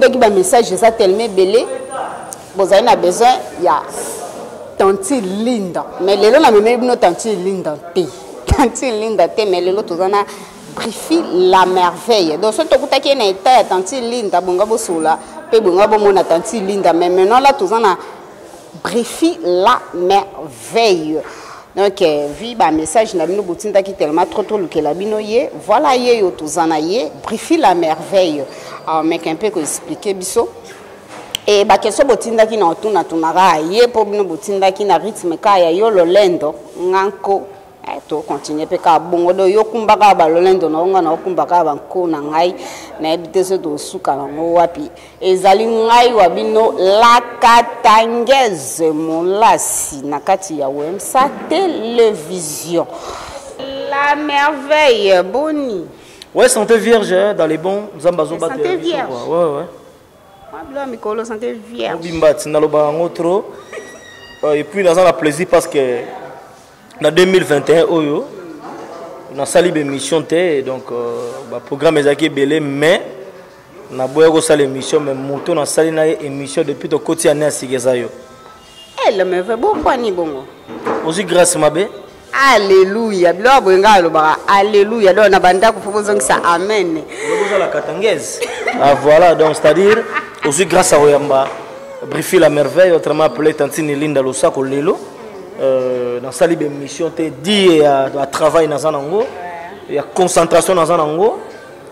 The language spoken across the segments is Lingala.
soki bamessage eza telema ebele bozali na besoin ya tanti linda mais lelo namemeli bino tanti linda te tanti linda te mais lelo toza na Brifi la merveille. Donc, ce que tu as dit, c'est que Tanti Linda, bon, bon, soula, puis bon, bon, mon Tanti Linda, mais maintenant, là, tous en a Brifi la merveille. Donc, euh, vu le message, n'a bino botinda ki tellement trop trop luke la bino ye, voilà ye yo tous en a ye, Brifi la merveille. Alors, mec, un peu que expliquer, biso. Et bah, que ce botinda ki na otuna tunara ye, pour bino botinda ki na rythme ka ya yo lolendo, nganko. Eh, tokontinue mpe kaka bongo do yo kumba kaka balolendo na yo ngai naokumba kaka banko na ngai nayebi te so tosuka nango wapi ezali ngai wa bino lakatangese molasi na kati ya wemsa television la merveille boni ouais santé vierge hein, dans les bons nzambe azobata santé vierge ouais ouais mwa bilo ya mikolo santé vierge obimba ti nalobaka yango trop euh, et puis naza na plaisir parce que na 2021 oyo nasali baémission te donc euh, baprogramme ezalaki ebele mais naboya kosala émission mais moto nasali na ye émission depuis tokoti ane asika eza yo elemeve eh, bokwani bongo ozwi grâce mabe alleluya bilo ya boye ngai alobaka alleluya donc na bandako fo bozongisa amen ozala katangaise ah voilà donc c'est à dire ozwi grâce ya koyamba brifi la merveille autrement appelé tantine linda losako lelo euh, nasali baémission te die ya batravail naza nango ya concentration naza nango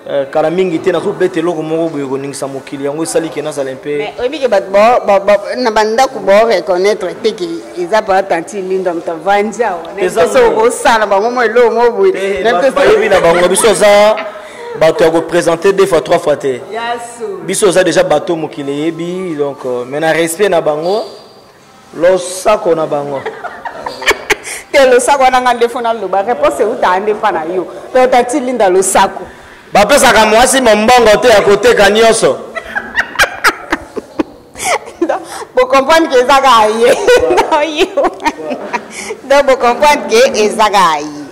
Euh, kala mingi te nazobeta eloko moko boye koningisa mokili yango esali ke nazala mpe oyebi ke bato na bandako boreconnaitre te ke eza pa tanti lindo moto avandi awaso okosala bango mo eloko mo boyebayebi na bango biso aza bato ya kopresente deux fois trois fois te biso oza déjà bato mokili eyebi donc euh, mais na respect na bango losako na bango te losako wana nga nde fo naloba réponse eutaa nde mpa na yo mpe otati linda losako bapesaka mwasi mombongo te ya koteka nyonso bocomprendre ke ezaka aye donc bocomprendre ke ezaka aye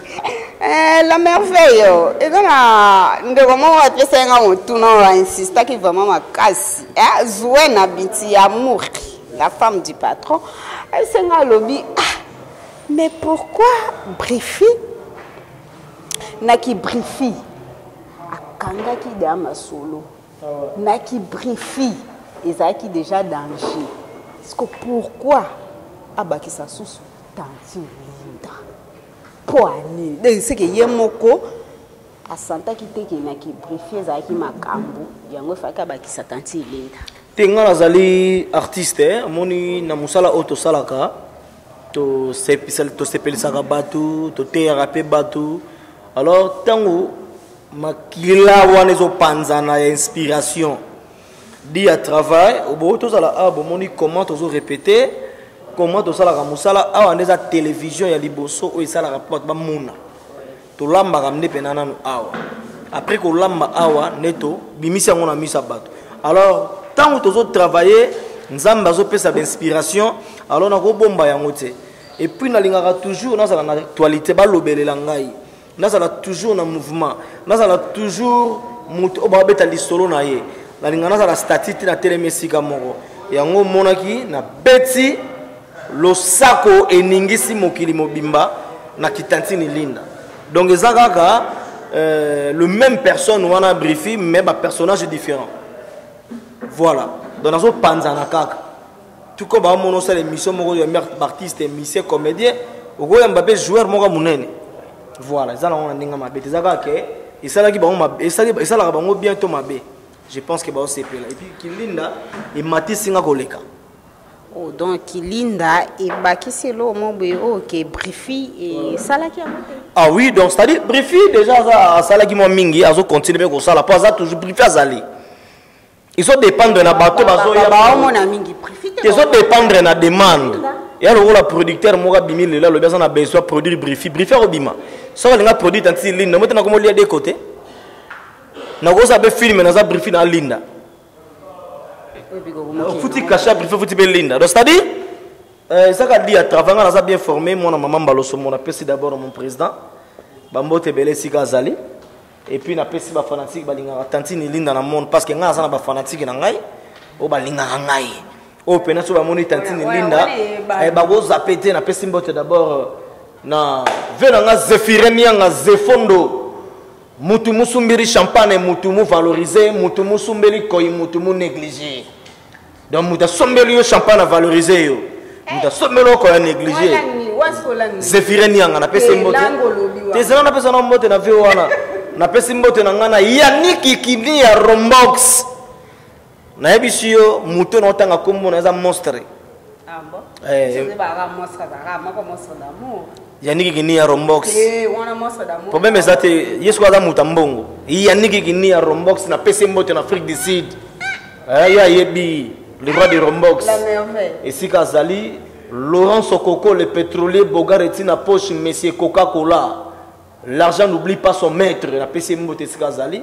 Eh, la merveille oh. eza na ndeko moko apesaki nga motuna oyo ainsistaki vraiment makasi eh, zue na biti ya murki la femme du patron esenga alobi ah mais pourquoi brifi na kibrifi akangaki deya masolo na kibrifi ezalaki déjà danger siko pourquoi abakisa susu tantine linda mpo anini seke ye moko asantaki te ke na kibrifi ezalaki makambo yango efalaki abakisa tanti elinda te ngai nazali artiste eh. amoni na mosala oyo tosalaka tosepelisaka bato toteyaka mpe bato alors ntango makila wana ezopanzana ya inspiration di ya travail oboki tozala awa bomoni comment tozo répéter comment tosalaka mosala awa nde eza télévision ya liboso oyo esalaka mpo bato bamona tolambaka nde mpena nanu awa après kolamba awa nde tobimisi yango na miso ya bato alors ntango tozotravaille nzambe azopesa bainspiration alors nakobomba yango te epuis nalingaka toujours nazala na actualité balobelela ngai nazala toujours na mouvement nazala toujours moto oyo babeta lisolo na ye nalinga nazala stati te natelemi esika moko yango omonaki nabeti losako eningisi mokili mobimba na kitantini linda donc eza kaka euh, le même personne wana brifi mais bapersonnage différent voilà donc nazopanzana kaka tuko baamona osala émission moko ya baartiste émission comédien okoyamba mpe joueur moko monene voilà eza nango na ndenge mabe te eza kaka ke esalaki bango mabe esalaka bango bien to mabe je pense ke baosepela epuis kilinda ematisi nga koleka Oh, donc Linda et Bakiselo Mobe, ok, Brifi et Salaki Ah oui, donc c'est-à-dire Brifi déjà à Salaki moi mingi, azo continuer avec ça, la pas ça toujours Brifi azali. Ils sont dépendre na bateau bazo ya. Ba mon ami Brifi. Ils sont dépendre na demande. ya lokola producteur moko abimi lelo alobi aza na besoin produire brifi brifi akobima soki alinga produit tanti linda mote nakomolia de côté nakozala mpe filme naza brifi na linda ofuti kasha brife ofuti mpe linda donc c'est-à-dire euh, ezaka di ya travail nga naza bien formé mwana mama mbalosomo napesi d'abord mon président bambote ebele esika azali epuis napesi bafanatique balingaka tantine linda na monde parce que ngai aza na bafanatique na ngai oyo balingaka ngai oyo mpena so bamoni tantine linda eh, bakozape te napesi mbote d'abord euh, na ve na ngai zephirin yanga zefondo Mutu musumbiri champagne, mutu mu valoriser, mutu musumbeli koi, mutu mu negliger. Donc mutu asombeli yo champagne à valoriser yo. Eh. Mutu asombeli yo koi à negliger. Zephyrin Nianga na pese eh, mbote. Tezana na pesa na mbote na vio wana. Na pese mbote na ngana Yannick Kini ya Rombox. nayebisi yo moto na otanga kombo na eza monstre ah eh, eh. yaniki kini ya rombox eh, problème eza te ye soki aza moto ya mbongo yaniki kini ya rombox na pese mbote na afrique du sud yo ayebi le roi de rombox esika azali laurent sokoko le pétrolier bogar eti na poche monsieur coca cola l'argent n'oublie pas son maître na pese mbote esika azali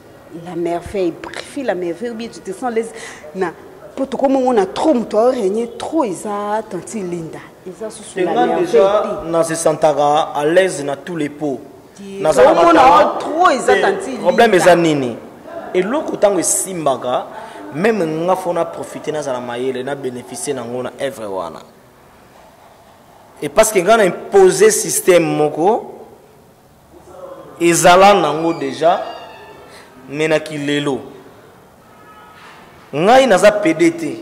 la merveille brifi la merveille oubien tu te sens les na mpo tokomongo na trop moto aorenie trop eza tanti linda eza susu la merveille te déjà na se sentaka à l'aise na tous les pots nazalaomona trop eza tanti problème eza nini eloko ntango esimbaka meme nga fo na profite nazala mayele na bénéficie na yango na evre wana e parce que nga na impose système moko ezala nango deja me na kilelo ngai naza pede te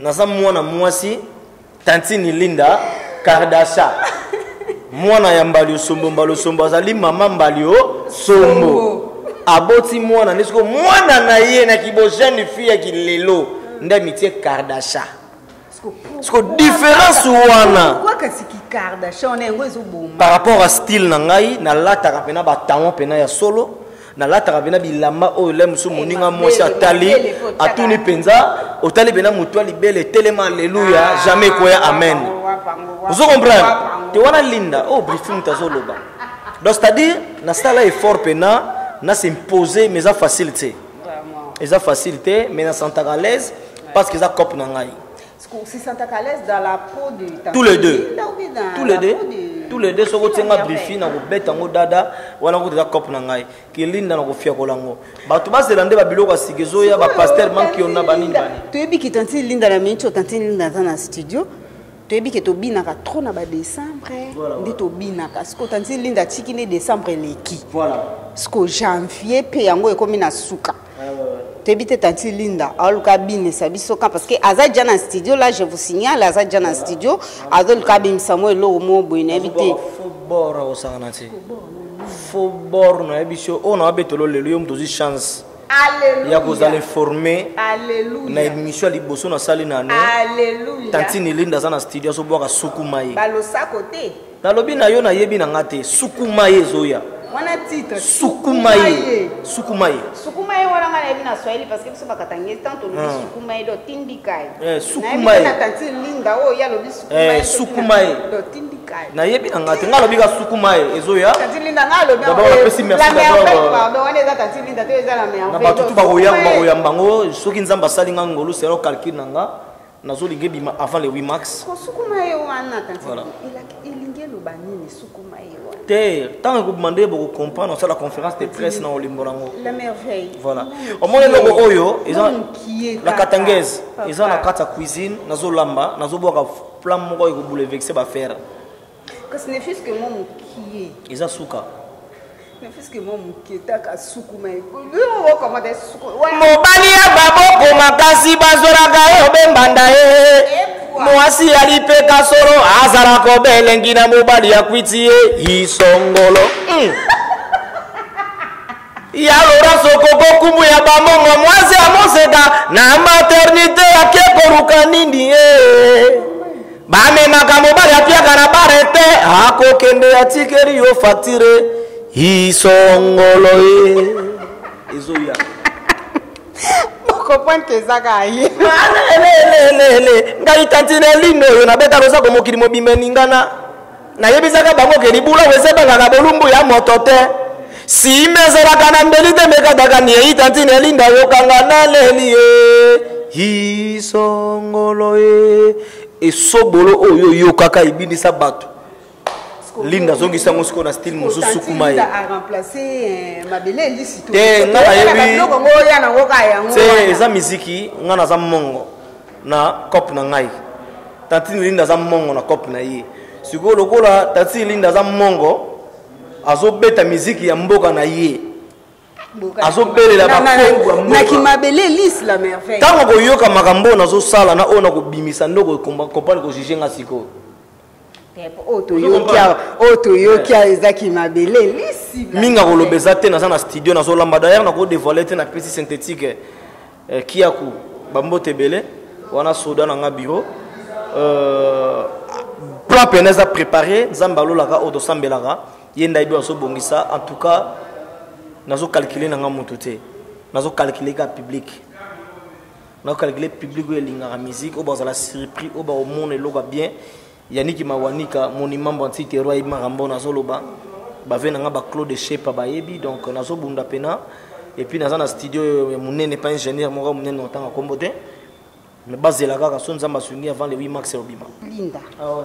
naza mwana mwasi tantini linda kardasha mwana ya mbali osombo mbali osombo azali mama mbali osombo aboti mwana nde sikoyo mwana na ye na kibo jeune fille ya kilelo nde mitie kardasha siko différence wana par rapport à style na ngai nalataka mpena batalon mpena ya solo nalataka mpena bilamba oyo le mosusu eh, moninga mwasi atali atuni mpenza otali mpena motu ya libele telema alleluya ah, jamais ekoya amen ozo comprendre te wana linda oyo oh, brifi moto azoloba donc c'est-à-dire nasala effort mpena na s'impose mais eza facile te eza facile te mais na santaka alaise parce que eza cope na ngai tous les deux tous les deux tous les deux soki otie nga brifi na kobeta yango dada wana kutu eza cope na ngai kilinda na kofiakola yango bato bazela nde babiloko ya sika ezoya bapaster mankiona banini bani toyebi ki tantine linda na miniti oyo tantine linda aza na studio toyebi ke tobinaka trop na badecembre nde tobinaka siko tanti linda atiki nde decembre eleki siko janvier mpe yango ekomi na suka ah, toyebi te tanti linda aoluka abinisa biso ka parce que aza dja na studio là je vous signale aza dja na studio azoluka abimisa mo eloko mo boye nayebi te fobor akosangana te fobor nayebi so oyo na wabetolo lelo yo moto ozwi chance ya kozala informe na émission ya liboso nasali na ne tantine linda aza na studio azobwaka sukuma ye nalobi na yo nayebi na nga te sukuma ye ezoya wana titre sukumaye sukumaye sukumaye wana nga nayebi na swahili parce que biso bakatangesi ntango tolobi sukumaye do tindikaye sukumaye na tantine linda oyo ye alobi Eh, sukuma ye nayebi na ngai te ngai alobi ka sukuma ye ezoya dabord napesi mercina bato tu bakoya bakoya bango soki nzambe asali ngai ngolu selo calcule na ngai nazolinga ebima avant le 8 max voilà. te ntango ekobima nde boko comprendre osala conférence de presse na olimbo nango voilà omoni eloko oyo eza la katangaise eza na kati ya cuisine nazolamba nazobwaka plan moko ekobula evexe bafere eza suka mobali ya baboko makasi bazwelaka ye obembanda ye mwasi ya lipeka solo azalaka obelengi na mobali ya kwiti ye isongolo mm. ya lora sokoko kumu ya bamongo mwasi ya moseka na maternite ya kekoluka nini ye eh. bamemaka mobali apiaka na bare te akokende atikeli yo faktire isongolo ye ezoya comprendre ezaka ye ngai tantine lindo oyo nabetaka oza komokili mobimba eningana nayebisaka bango ke libula oyo esepelaka bolumbu ya moto te sima ezalaka na mbeli te mekataka nieita ntina elinda yokanga naleli ye hisongolo ye esobolo oyo oyokaka ebinisa bato linda azongisa yango sikoyo na style mosusu sukuma ye te nga nayebi eza miziki nga naza mongo na cop na ngai tantine linda aza mongo na cop na ye sikoyo lokola tantine linda aza mongo azobeta miziki ya mboka na ye azobelela bakongwanakimabele elise la merveille ntango koyoka makambo oyo nazosala na oyo nakobimisa nde okokompane kojuge nga sikoyo mingi akoloba eza te naza na studio nazolamba d'ailleurs nakodevoile te na pesi synthétique eh, eh, kiaku bambote ebele wana soda na nga biro euh, plan pene eza préparé nzambe alolaka oyo tosambelaka ye ndai bi azobongisa en tout cas nazocalcule na nga motu te nazocalcule ka publique na calcule public oyo elingaka musique oyo bazala surpris oyo bakomona eloko ya bien yaniki mawanika monument banti tero ayebi makambo oyo nazoloba bave na nga baclaude shepa bayebi donc nazobunda mpena epuis naza na studio ya monene mpa ingénieur moko ya monene otanga nkombo te mais bazela kaka so nzambe asungi avant le 8 max obima linda ah ouais.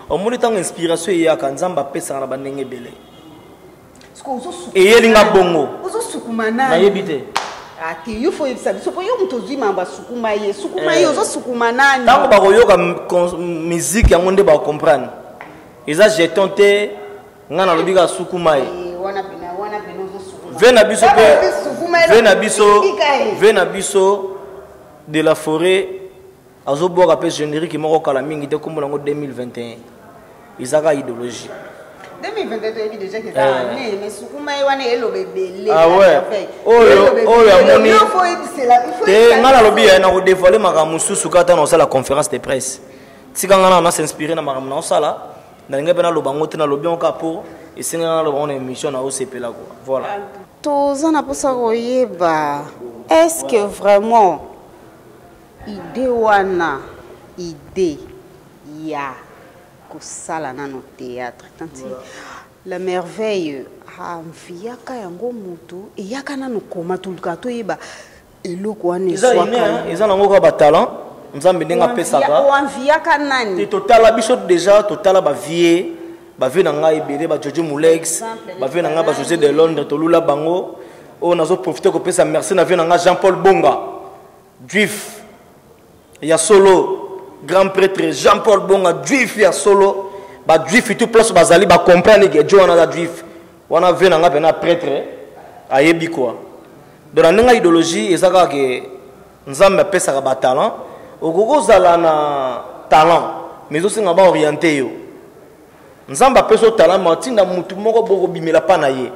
omoni ntango inspiration eyaka nzambe apesaka na bandenge ebele eyeli nga bongo nayebi te ate yo fo oyebisa biso mpo yo moto ozwi mambo asukuma ye sukuma ye eh. ozosukuma nani ntango bakoyoka miziki yango nde bakomprendre eza jeton te ngai nalobi kaka sukuma ye eh, ve na biso mpe ve na biso ve na biso de la forêt azobwaka mpe générique moko kala mingi te nkombo nango 2021 ezaka idéologie 2022 toyebi deja ke eza ane mais sukuma ye wana eloba ebele oyo amoni te ngai nalobi ye nakodevoile makambo mosusu kata na osala conférence de presse tika ngai na nasinspire na makambo naosala nalingai mpe naloba yango te nalobi yango ka mpo esengeli naloba yango na émission na osepela kua voilà toza na mposa koyeba est ce que vraiment Idee wana idee ya kosala nano theatre tanti la merveille amviyaka yango motu eyaka nano koma toluka toyeba eloko wana eza nango kaka batalent nzambe ndenge apesaka oanviyaka nani te totala biso deja totala bavie bavie na ngai ebele bajojo mulex bavie na ngai bajose de londres tolula bango oyo nazoprofite kopesa merci na vie na ngai jean paul bonga Juif ya solo grand pretre Jean Paul Bonga juif ya solo ba juif tout place bazali ba comprendre que Joe wana aza juif wana vie na nga pena pretre ayebi quoi donc na ndenge idéologie eza kaka ke nzambe apesaka ba talent okoki kozala na talent mais ezosenga ba oriente yo nzambe apesi yo talent ma otinda motu moko bokobimela mpa na ye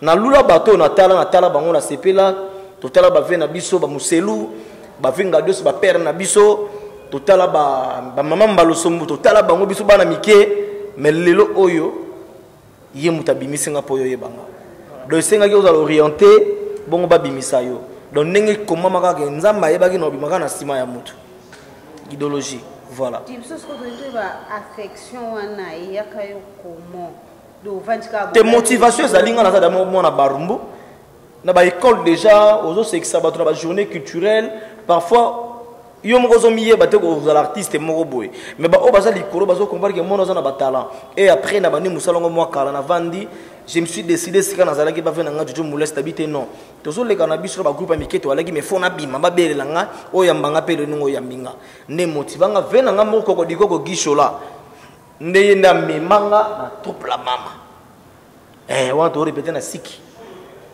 Na lula bato oyo na tala na tala bango na sepela to tala ba vie na biso ba muselu ba vie ngadios ba père na biso to tala ba ba maman mbalosombo to tala bango biso bana mike mais lelo oyo ye muta bimisi nga po yo ye banga donc esengaki ozala orienté bongo ba bimisa yo donc ndenge ekomama kaka nzambe ayebaki na obimaka na nsima ya motu idéologie voilà te motivation ezali ngai naza damo mwana barumbu na baekole déjà ozosekisa bato na bajournée culturelle parfois yo moko ozomiyeba te kozala artiste moko boye mais baoyo baza likolo bazokomprendre ke mwana oza na batalent et après na bandi mosala yango mwa kala navandi je me suis décidé sika nazalaki bave na ngai jojo moleste abi te non tozoleka na biso na bagroupe ya mike toalaki mais fo nabima babelela ngai oyamba ngai mpe leningo oyambi ngai nde motivanga ve na ngai moko kokodikoko gishola nde ye nde amema nga na troupe la mama eh, wana toorepete na siki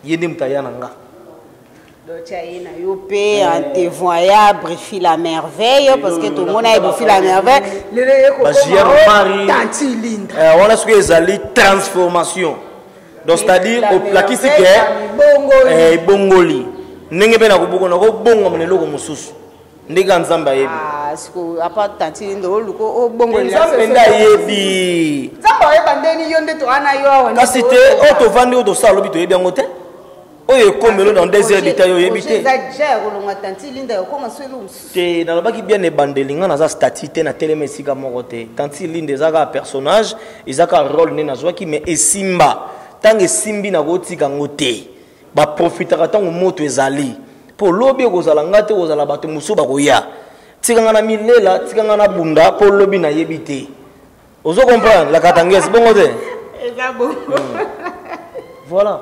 ye nde moto aya na nga dotya ye na yo mpe eh. antevoyable fi la merveille eh, parce que tomona ye bofi la merveille lelo yekotanti linda eh, wana soki ezali transformation donc c'est-à-dire olakisi ke ebongoli ndenge mpe nakobongo nakobongama na eloko mosusu ndenge ya nzambe ayebi ah, siko apa tantini ndo oluka obongonzambe nde ayebi nzambe ayeba ndeni yo nde towana yo awa kasi te oyo tovandi oyo tosala lobi toyebi yango te oyo ekomelo na nde ezela bita yo oyebi te te nalobaki bien ebandeli ngai naza stati te na telema esika moko te tanti linde eza kaka personnage eza kaka role nde nazwaki mais esimba ntango esimbi nakotika yango te Ba profitaka tango moto ezali po lobi okozala nga te okozala bato mosusu bakoya tika nga na milela tika nga na bunda po lobi nayebi te ozo comprendre la katangese bongo te eza bongo hmm. voilà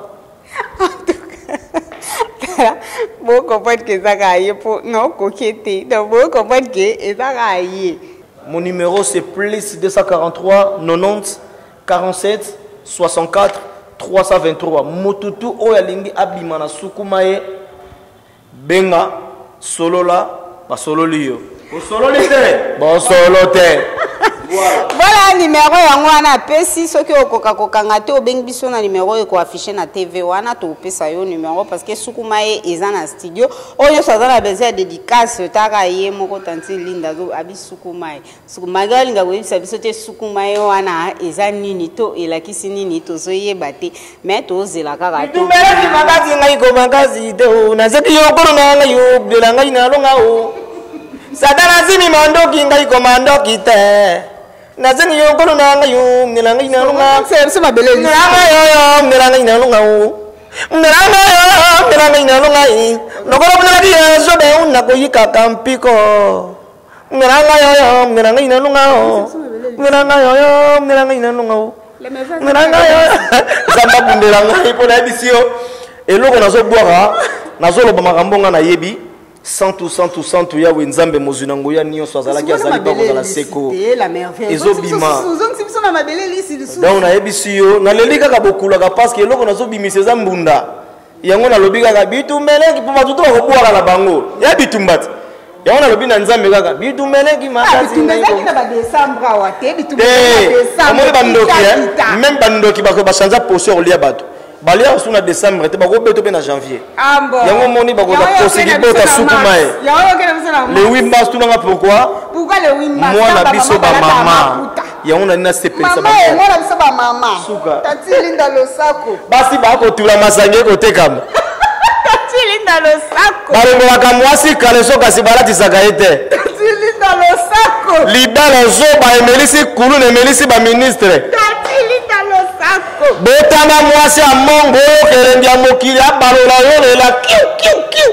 bo comprendre que eza kaka ye po na okoki te donc bo comprendre que eza kaka ye mon numéro c'est plus 243 90 47 64 323 mututu oyo alingi abima na sukuma ye benga solola basololi yo osololi te bosolo te voilà nimero yango wana apesi soki okoka kokanga te obengi biso na nimero oyo ekoaffiche na tv wana tokopesa yo nimero parce que sukuma ye eza na studio oyo nyonso aza na besoin ya dédicace otaka ye moko tanti linda abi sukuma ye Sukumage alinga koyebisa biso te sukuma ye wana eza nini to elakisi nini tozoyeba te me tozela kaka tumbelaki makasi ngai ko makasi te o nazeki yo kolo na ngai o bela ngai nalonga o satana zimi mandoki ngai ko mandoki te nazeki yo kolo na ngai o mbela ngai nalonga biso mabele mbela ngai oyo mbela ngai nalonga o mbela ngai oyo mbela ngai nalonga e lokola bunalaki ya zobe nakoyikaka mpiko Ngeranga yoyo, ngeranga ina nunga o. Ngeranga yoyo, ngeranga ina nunga o. Ngeranga yoyo. Zamba bundela ngai pona yebisi yo. Eloko nazo bwaka, nazo loba makambo nga na yebi. santu santu santu yawe nzambe mozwi na nguya nyonso azalaki azali mpe akozala seko ezobima donc nayebisi yo naleli kaka bokulaka parceke eloko nazobimisa eza mbunda yango nalobi kaka bitumbelengi mpo bato to bakobwaka na bango ya bitumba te yango nalobi na nzambe kaka bitumbelengi makasiomoni bandoki meme bandoki bachanza poso ya kolia bato balia kosuku na décembre te bakobeto mpe na janvier ah, yango omoni bakoza posi libota suku mae lewi mbas tunanga pourkui mwana biso bamama yango nani nasepelisa mama yango na biso bamama tati linda losako basi bakotula masangi ekotekama tati linda losako balongolaka mwasi kaleso kasi balatisaka ye te tati linda losako libala zoba emelisi kuluna emelisi baministre botanga mwasi ya mongo oyo kelengi ya mokili abalola yo lela kiu kiu kiu